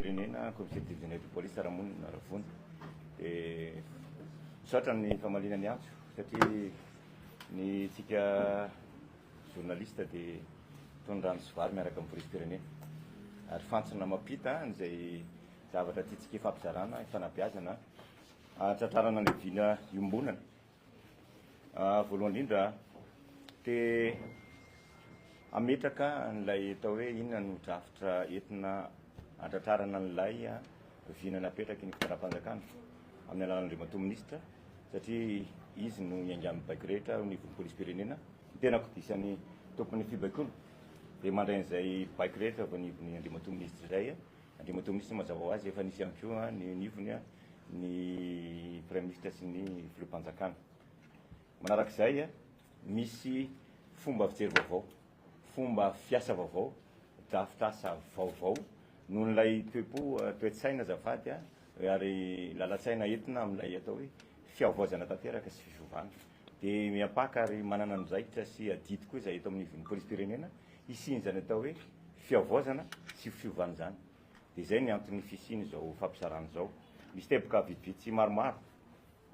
Firenena, Comité de Genève de Police Ramonina Ravony. Dia misaotra ny famaliana ny antso satria ny tsika journaliste dia tony rano sy vary miaraka amin'ny polisim-pirenena. Ary fantsona mampita an'izay zavatra tiantsika ifampizarana, ifanabeazana, hahatratrarana ny vina iombonana. Voalohany indrindra, te hametraka an'ilay atao hoe inona no drafitra entina hantratrarana an'ilay vina napetraky ny fitondram-panjakana amin'ny alalan'Andriamatoa Minisitra satria izy no niaingan'ny baiko rehetra ao anivon'ny polisim-pirenena. Ny tenako dia isan'ny tompon'ny fibaikoana. Dia mandray an'izay baiko rehetra avy anivon'ny Andriamatoa Minisitra izay. Andriamatoa Minisitra mazava ho azy efa nisy ihany koa ny anivony ny Praiminisitra sy ny Filoham-panjakana. Manaraka izay, misy fomba fijery vaovao, fomba fiasa vaovao, drafitr'asa vaovao noho ilay toe-po, toe-tsaina azafady, ary lalan-tsaina entina amin'ilay atao hoe fihavaozana tanteraka sy fisovana. Dia miampaka ary manana andraikitra sy adidy koa izay eto amin'ny ivon'ny Polisim-pirenena hisian'izany atao hoe fihavaozana sy fiovana izany. Dia izay ny anton'ny fisian'izao fampisarahana izao. Misy teboka vitsivitsy maromaro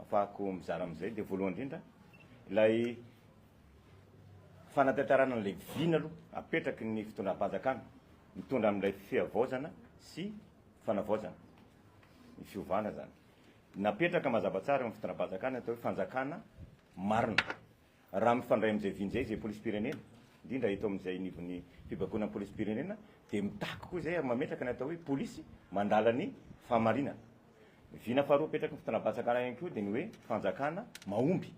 afahako mizara amin'izay. Dia voalohany indrindra, ilay fanatantarana an'ilay vina aloha apetraky ny fitondram-panjakana mitondra amin'ilay fihavaozana sy fanavaozana. Ny fiovana izany. Napetraka mazava tsara eo amin'ny fitondram-panjakana ny atao hoe fanjakana marina. Raha mifandray amin'izay vinjay izay polisim-pirenena, indrindra eto amin'izay anivon'ny fibaikoana ny polisim-pirenena, dia mitaky koa izay ary mametraka ny atao hoe polisy mandala ny fahamarinana. Vina faharoa apetraky ny fitondram-panjakana ihany koa dia ny hoe fanjakana mahomby.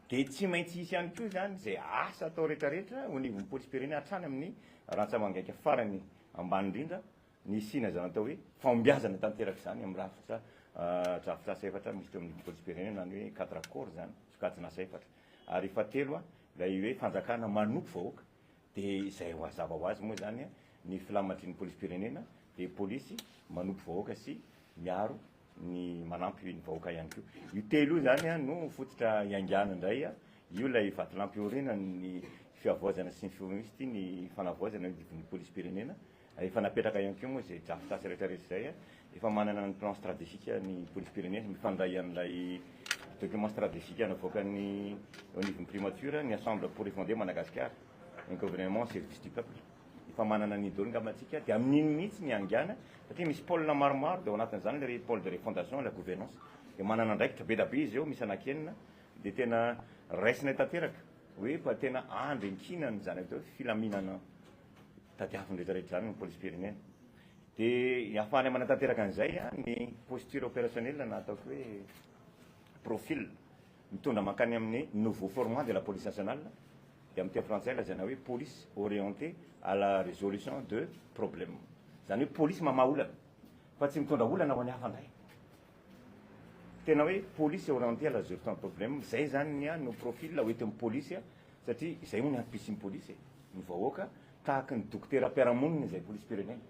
Dia tsy maintsy hisy ihany koa izany izay asa atao rehetrarehetra ho anivon'ny polisim-pirenena hatrany amin'ny rantsamangaika farany ambany indrindra, Nisiana izany atao hoe fahombiazana tanteraka izany amin'ny rafitra drafitrasa efatra misy teo amin'ny Polisim-pirenena, izany hoe cadre accord izany, sokajin'asa efatra. Ary fahatelo, ilay hoe fanjakana manompo vahoaka, dia izay mazava ho azy moa izany ny filamatrin'ny Polisim-pirenena dia polisy manompo vahoaka sy miaro ny manampy ny vahoaka ihany koa. Io telo io izany no fototra hiaingàna indray, io ilay vatolampy iorenan'ny fihavaozana sy ny fifoha misy ity ny fanavaozana eo anivon'ny Polisim-pirenena, Efa napetraka ihany koa moa izay draftasy rehetra rehetra izay. Efa manana ny plan strategique ny polisim-pirenena, mifandray amin'ilay document strategique navoakan'ny eo anivon'ny primature, ny Assemble pour refonder Madagascar, un gouvernement au service du peuple. Efa manana an'iny daholo angamba tsika dia amin'iny mihitsy ny hangana satria misy pole maromaro dia ao anatin'izany ilay hoe pole de refondation et la gouvernance. Dia manana andraikitra be da be izy eo, misy anankienina dia tena raisinay tanteraka hoe efa tena andry ankinan'ny zanaka teo filaminana tadiaviny rehetra rehetra izany ny polisim-pirenena dia hahafahany manatanteraka an'izay ny posture opérationnelle na ataoko hoe profil mitondra mankany amin'ny nouveau format de la police nationale dia amin'ny teny frantsay lazaina hoe police orientée à la résolution de problème izany hoe polisy mamaha olana fa tsy mitondra olana ho an'ny hafa indray Tena hoe police orientée à la gestion de problème, izay zany ny ahy no profil ho ety amin'ny police satria izay hono ny hadibesin'ny police e! Ny vahoaka tahaka ny dokotera mpiara-monina izay polisim-pirenena.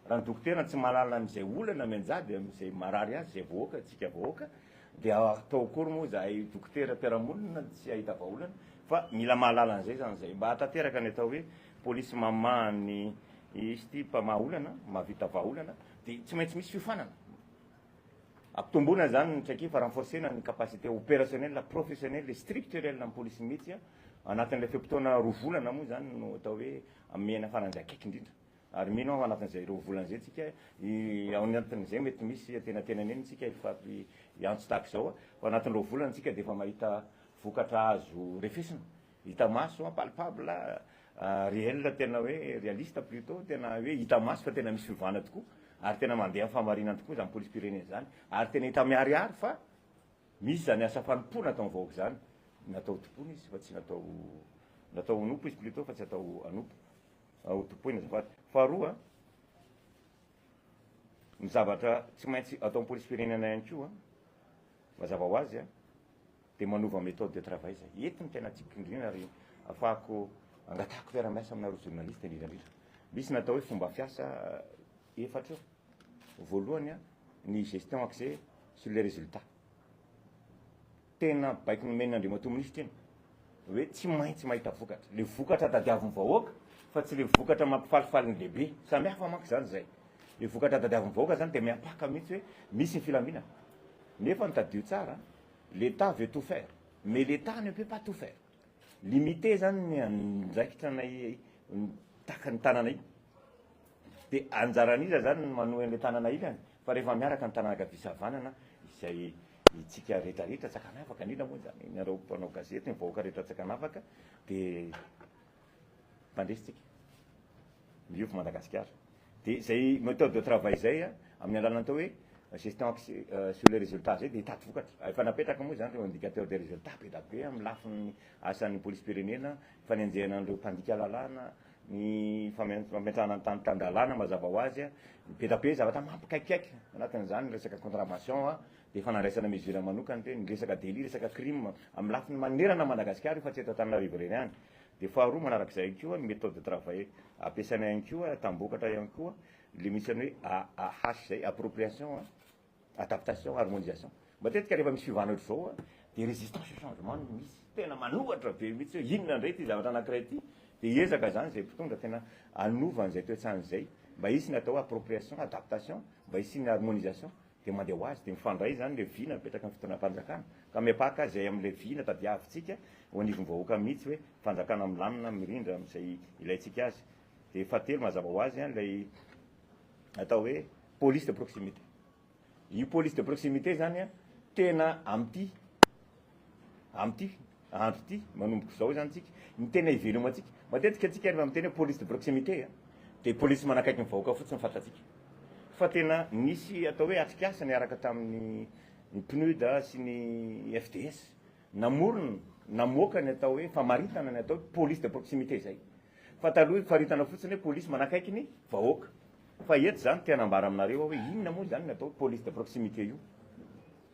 Raha ny dokotera tsy mahalala an'izay olana mianjady amin'izay marary azy izay vahoaka, antsika vahoaka, dia atao akory moa izahay dokotera mpiara-monina tsy hahita vahaolana fa mila mahalala an'izay izany izay mba hahatanteraka ny atao hoe police mamaha ny izy ity mpamaha olana, mahavita vahaolana dia tsy maintsy misy fiofanana. Ampitomboina izany ny traikefa, renforcer-na ny capacité opérationnelle, professionnelle et structurelle an'ny polisy mihitsy anatin'ilay fe-potoana roa volana moa izany no atao hoe amehena faran'izay akaiky indrindra. Ary mino aho anatin'izay roa volana izay tsika, ao anatin'izay mety misy antenatena neny tsika hiantso tahaka izao fa anatin'ny roa volana tsika dia efa mahita vokatra azo refesina. Hita maso hoa, palpable, réel, tena hoe réaliste plutot, tena hoe hita maso fa tena misy fiovana tokoa, ary tena mandeha amin'ny fahamarinana tokoa izany polisim-pirenena izany, ary tena hita miharihary fa misy izany asa fanompoana ataon'ny vahoaka izany, natao hotompoina izy fa tsy natao, natao honompo izy plutot fa tsy atao hanompo, hotompoina azafady. Faharoa, ny zavatra tsy maintsy ataon'ny polisim-pirenena ihany koa, mazava ho azy, Dia manova méthode de travail izay. Eto no tena tiako indrindra ary afahako angatahako fiarahamiasa aminareo journaliste indrindra indrindra. Misy natao hoe fomba fiasa efatra eo. Voalohany a, ny gestion axée sur les résultats. Tena baiko nomen' Andriamatoa Minisitra iny hoe tsy maintsy mahita vokatra. Ilay vokatra tadiavin'ny vahoaka fa tsy ilay vokatra mampifalifaly ny lehibe. Samy hafa manko izany izay. Ilay vokatra tadiavin'ny vahoaka izany dia miampaka mihitsy hoe misy ny filaminana. Nefa ny tadio tsara L'Etat veut tout faire mais l'Etat ne peut pas tout faire. Limité zany ny andraikitra anay tahaka ny tanana iny. Dia anjaran'iza zany ny manohy an'ilay tanana ilany? Fa rehefa miaraka ny tanana ankavia sy havanana izay itsika rehetra rehetra Antsakanavaka, an'ila moa izany ianareo mpanao gazety, ny vahoaka rehetra Antsakanavaka dia. tandresintsika miofo Madagasikara dia zay méthode de travail zay a amin'ny alalan'ny atao hoe gestion axée sur les résultats zay dia hitady vokatra efa napetraka moa zany reo indicateur des résultats be da be amin'ny lafiny asan'ny polisim-pirenena fanenjehana an'ireo mpandika lalàna ny fametrahana ny tany tan-dalàna mazava ho azy a be da be zavatra mampikaikaiky anatin'izany ny resaka contravention a dia efa nandraisana mesure manokana ireny ny resaka délit resaka crime amin'ny lafiny manerana Madagasikara io fa tsy eto Antananarivo irery ihany Dia faharoa manarak'izay ihany koa ny méthode de travail ampiasaina ihany koa tambokatra ihany koa le misy an'ny hoe AAH zay, appropriation, adaptation, harmonisation. Matetika rehefa misy fiovana ohatr'izao dia résistance au changement no misy, tena manohatra be mihitsy hoe inona indray ity zavatra anankiray ity, dia hiezaka izany izay mpitondra tena hanova an'izay toetsaina izay mba hisy ny atao hoe appropriation, adaptation, mba hisian'ny harmonisation Dia mandeha ho azy, dia mifandray izany ilay vina mipetraka amin'ny fitondram-panjakana, ka miapaka azy izay amin'ilay vina tadiavintsika eo anivon'ny vahoaka mihitsy hoe fanjakana milamina, mirindra amin'izay ilaintsika azy. Dia fahatelo mazava ho azy ilay atao hoe police de proximité. Io police de proximité izany tena amin'ity, amin'ity. andro ity, manomboka izao izany tsika, ny tena ivelomantsika. Matetika tsika rehefa miteny hoe police de proximité a, dia police manakaiky ny vahoaka fotsiny ny fantatsika. Fa tena nisy atao hoe atrikasa niaraka tamin'ny ny PNUD sy ny FDS, namorona, namoaka ny atao hoe famaritana ny atao hoe police de proximité izay. Fa taloha faritana fotsiny hoe police manakaiky ny vahoaka. Fa eto izany te hanambara aminareo aho hoe inona moa izany ny atao hoe police de proximité io.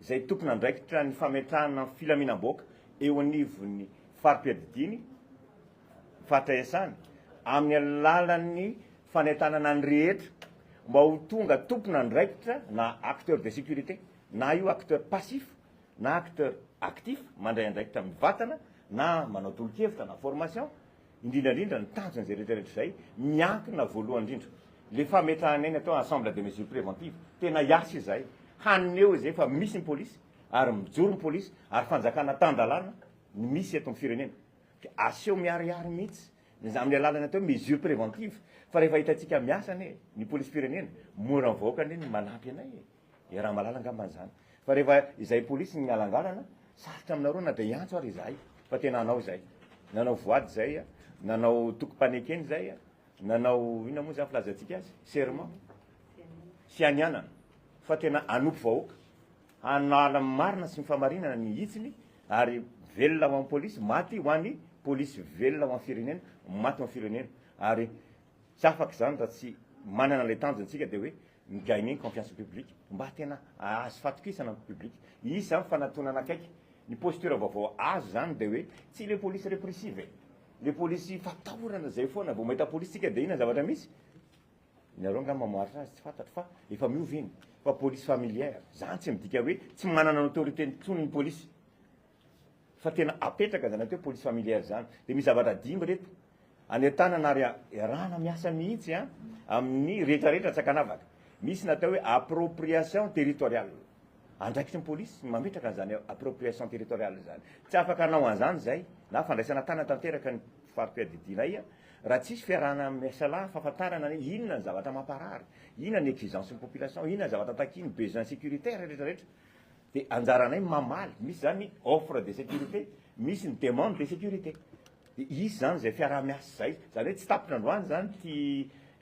izay tompon'andraikitra ny fametrahana ny filaminam-bahoaka eo anivon'ny fari-piadidiany, faritra iasany, amin'ny alalan'ny fanentanana ny rehetra mba ho tonga tompon'andraikitra na acteurs de sécurité, na io acteurs passifs na acteurs actifs, mandray andraikitra mivantana na manao tolo-kevitra na formation, indrindra indrindra ny tanjon'izay rehetra rehetra izay, miankina voalohany indrindra, ilay fametrahanay ny atao ensemble de mesures préventives, tena hiasa izahay, haneho izay fa misy ny polisy, ary mijoro ny polisy, ary fanjakana tan-dalàna no misy eto amin'ny firenena. Dia aseho miharihary mihitsy, ny amin'ny alalan'ny atao hoe mesures préventives, fa rehefa hitantsika miasa anie ny polisim-pirenena, mora mivoaka anie ny manampy anay e! Dia Ramalala angamba izany. Fa rehefa izay polisy no mihalangalana, sarotra aminareo na dia hiantso ary izahay fa tena hanao izay. Nanao voady izay, nanao tokim-panekena izay, nanao inona moa izany filazantsika azy? Serment. Fianianana. Fa tena hanompo vahoaka. Hanala ny marina sy ny famarinana ny hitsiny ary velona ho an'ny polisy, maty ho an'ny polisy, velona ho an'ny firenena, maty ho an'ny firenena. Ary tsy afaka izany raha tsy manana ilay tanjona isika dia hoe mi gagner ny confiance ny public mba tena ahazo fatokisana ny public izy zany fanatonana akaiky ny posture vaovao azo zany de hoe tsy le police repressive e le police fatahorana zay foana vao mahita police tsika de inona zavatra misy nareo nga mamoaritra azy tsy fantatro fa efa miova iny fa police familière zany tsy midika hoe tsy manana ny autorité ny tsony ny police fa tena apetraka zany atao hoe police familiale zany dia misy zavatra dimy reto any an-tanana ary iarahana miasa mihitsy a amin'ny rehetra rehetra tsy ankanavaka misy ny atao hoe appropriation territoriale andraikitry ny polisy ny mametraka an'izany appropriation territoriale izany tsy afaka hanao an'izany izay na fandraisana tànana tanteraka ny fari-piadidianay raha tsisy fiarahana miasa lahy fahafantarana ny inona ny zavatra mamparary inona ny exigence ny population inona ny zavatra takiany besoin sécuritaire rehetra rehetra Dia anjaranay ny mamaly, misy izany ny offre de sécurité, misy ny demande de sécurité. Dia hisy izany izay fiaraha-miasa izay. Izany hoe tsy tapitra androany izany ity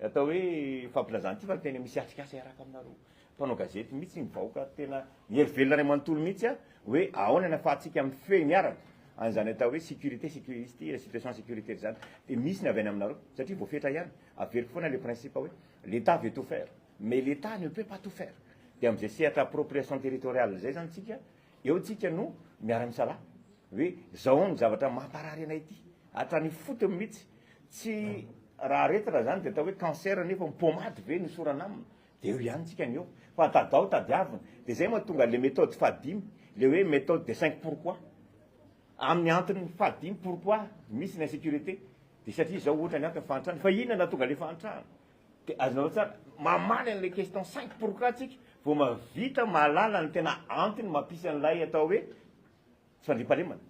atao hoe fampilazana ity fa tena misy atrikasa iaraka aminareo mpanao gazety mihitsy ny vahoaka tena mihery velona iray manontolo mihitsy a hoe ahoana ny afahantsika mifehy miaraka an'izany atao hoe sécurité sécurité situation sécuritaire izany dia misy ny avy any aminareo satria voafetra ihany averiko foana le principe hoe l'État veut tout faire Mais l'Etat ne peut pas tout faire. Dia amin'izay sehatra appropriation territoriale izay izany isika, eo isika no miara-misalahy hoe izao ny zavatra mamparary anay ity, hatrany ifotony mihitsy. Tsy raha aretina izany dia atao hoe cancer nefa ho pommade ve no hisorana aminy? Dia eo ihany isika ny eo. Fa tadao tadiavina. Dia izay mahatonga ilay méthode fahadimy, ilay hoe méthode des cinq pourquoi. Amin'ny antony fahadimy pourquoi misy ny insécurité. Dia satria izao ohatra ny antony, fahantrana. Fa inona no nahatonga ilay fahantrana? Dia azonareo tsara mamaly an'ilay question cinq pourquoi tsika vao mahavita mahalala ny tena antony mampisy an'ilay atao hoe tsy fandriampahalemana.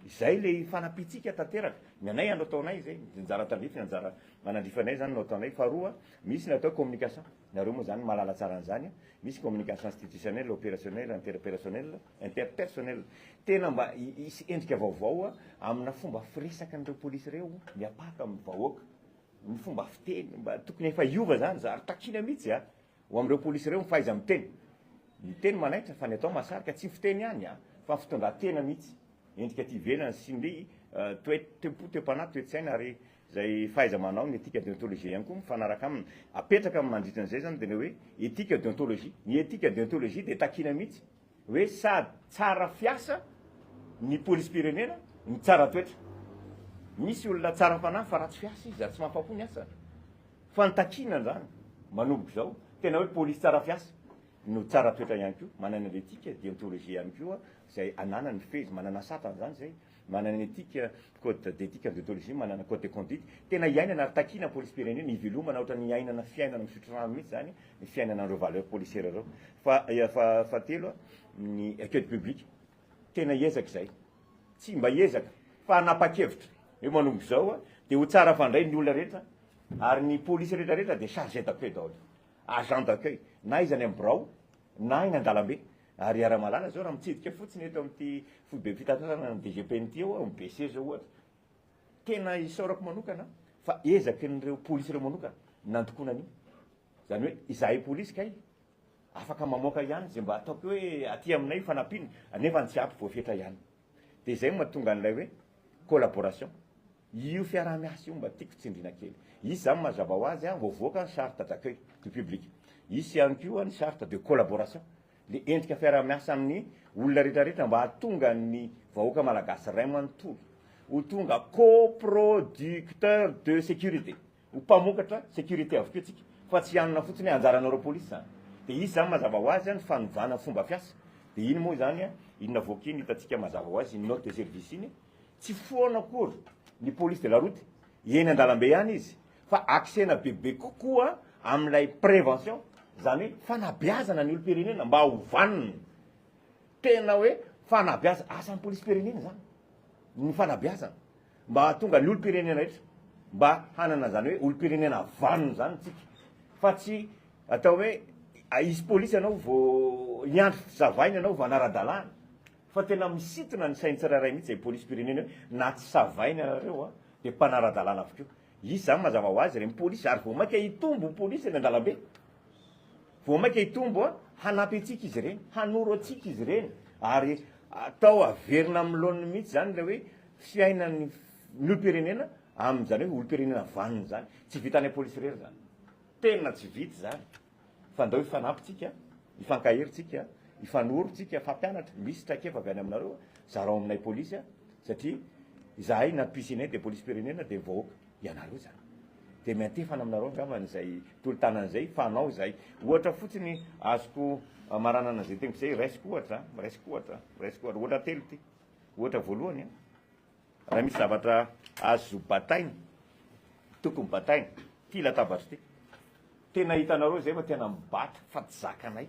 Izay ilay fanampiantsika tanteraka. Ny anay andro ataonay izay, ny anjara tandrify, ny anjara manandrifanay izany no ataonay. Faharoa, misy ny atao hoe communication. Nareo moa izany mahalala tsara an'izany. Misy communication institutionnelle, opérationnelle, interpérationnelle, interpersonnelle. Tena mba hisy endrika vaovao amina fomba firesaka an'ireo polisy ireo miapaka amin'ny vahoaka. ny fomba fiteny mba tokony efa hiova zany zary takina mitsy a ho amreo polisy reo ny fahaiza miteny ny teny manaitra fa ny atao mahasarika tsy ny fiteny ihany a fa ny fitondratena mitsy endrika aty ivelany sy ny toe tempo toepanahy toetsaina ary zay fahaiza manao ny etika deontologie ihany koa mifanaraka aminy apetraka mandritra ny zay zany de le hoe etika deontologie ny etika deontologie de takina mitsy Hoe sady tsara fiasa ny polisim-pirenena no tsara toetra. Misy olona tsara fanahy fa ratsy fiasa izy ary tsy mahafa-po ny asany. Fa ny takiana izany manomboka izao, tena hoe polisy tsara fiasa no tsara toetra ihany koa, manana ny etika, deontologie ihany koa izay ananany, mifehy izy, manana satrany izany izay. Manana ny etika, code d'éthique en déontologie, manana code de conduite, tena iainana ary takiana polisim-pirenena, ivelomana ohatran'ny iainana fiainana misotro rano mihitsy izany ny fiainana an'ireo valeurs policières ireo. Fa fahatelo, ny accueil public, tena ezaka izay, tsy mba ezaka fa hanapa-kevitra hoe manomboka izao dia ho tsara fandray ny olona rehetra ary ny polisy rehetra rehetra dia chargé d'accueil daholo, agent d'accueil, na izy any amin'ny birao na eny an-dalambe Ary iaraha-mahalala izao raha mitsidika fotsiny eto amin'ity foibem-pitantanana ny DGPN ity eo aho, ny BC izao ohatra. Tena isaorako manokana aho fa ezakin'ireo polisy ireo manokana ny nandokoana an'io. Izany hoe izahay polisy kay afaka mamoaka ihany izay mba ataoko hoe aty aminay fanampiana, nefa ny tsy ampy voafetra ihany. dia izay no mahatonga an'ilay hoe collaboration. Io fiaraha-miasa io mba tiako tsindriana kely. Hisy izany mazava ho azy, vao voaka ny charte d'accueil du public. Hisy ihany koa ny charte de collaboration, ilay endrika fiaraha-miasa amin'ny olona rehetrarehetra mba hahatonga ny vahoaka malagasy iray manontolo ho tonga coproducteur de sécurité. Ho mpamokatra sécurité avokoa antsika fa tsy hanana fotsiny hoe anjaranareo police izany. Dia izy izany mazava ho azy ny fanovana ny fomba fiasa. Dia iny moa izany iny navoaka iny hitantsika mazava ho azy iny note de service iny tsy foana akory ny police de la route eny an-dalambe ihany izy fa axena bebe kokoa amin'ilay prévention izany hoe fanabeazana ny olom-pirenena mba ho vanona. Tena hoe fanabeazana, asan'ny polisim-pirenena izany ny fanabeazana. mba hahatonga ny olom-pirenena rehetra mba hanana izany hoe olom-pirenena vanona izany isika fa tsy atao hoe hisy polisy ianao vao hiandry savaina ianao vao hanara-dalàna fa tena misintona ny sain'ny tsirairay mihitsy izay polisim-pirenena hoe na tsy savaina ianareo dia mpanara-dalàna avokoa Izy zany mazava ho azy reny polisy ary vao maika hitombo polisy eny andalambe vao maika hitombo a hanampy antsika izy reny hanoro antsika izy reny ary atao averina amin'ny laoniny mihitsy zany ilay hoe fiainan'ny ny olom-pirenena amin'izany hoe olom-pirenena vanona izany tsy vitan'ilay polisy irery zany tena tsy vita izany fa ndao hifanampy tsika, hifankahery tsika, hifanoro tsika fampianatra, misy traikefa avy any aminareo zarao aminay polisy a, satria izahay na pcne dia polisim-pirenena dia ny vahoaka ianareo izany, dia miantefana aminareo angambany izay tolo-tanana izay fa anao izahay, ohatra fotsiny azoko maranana izay teniko izay, raisiko ohatra, raisiko ohatra, raisiko ohatra, ohatra telo ity, ohatra voalohany a. Raha misy zavatra azo bataina, tokony bataina. Ity latabatra ity. Tena hitanareo izay fa tena mibata fa tsy zakanay.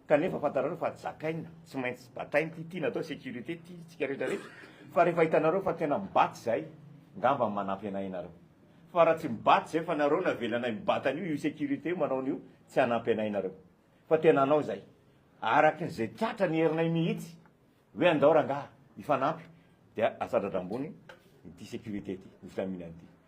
Kanefa fantanareo fa zakaina, tsy maintsy bataina ity. Ity natao sécurité ity, tsika rehetra rehetra. Fa rehefa hitanareo fa tena mibata izahay, ngamba manampy anay ianareo. Fa raha tsy mibata izahay fa nareo no avelanay mibata an'io, io sécurité io manao an'io, tsy hanampy anay ianareo. Fa tena hanao izahay. Arakin'izay tratra ny herinay mihitsy. Hoe andao rangah hifanampy dia asadradra ambony ity sécurité ity, ny filaminana ity.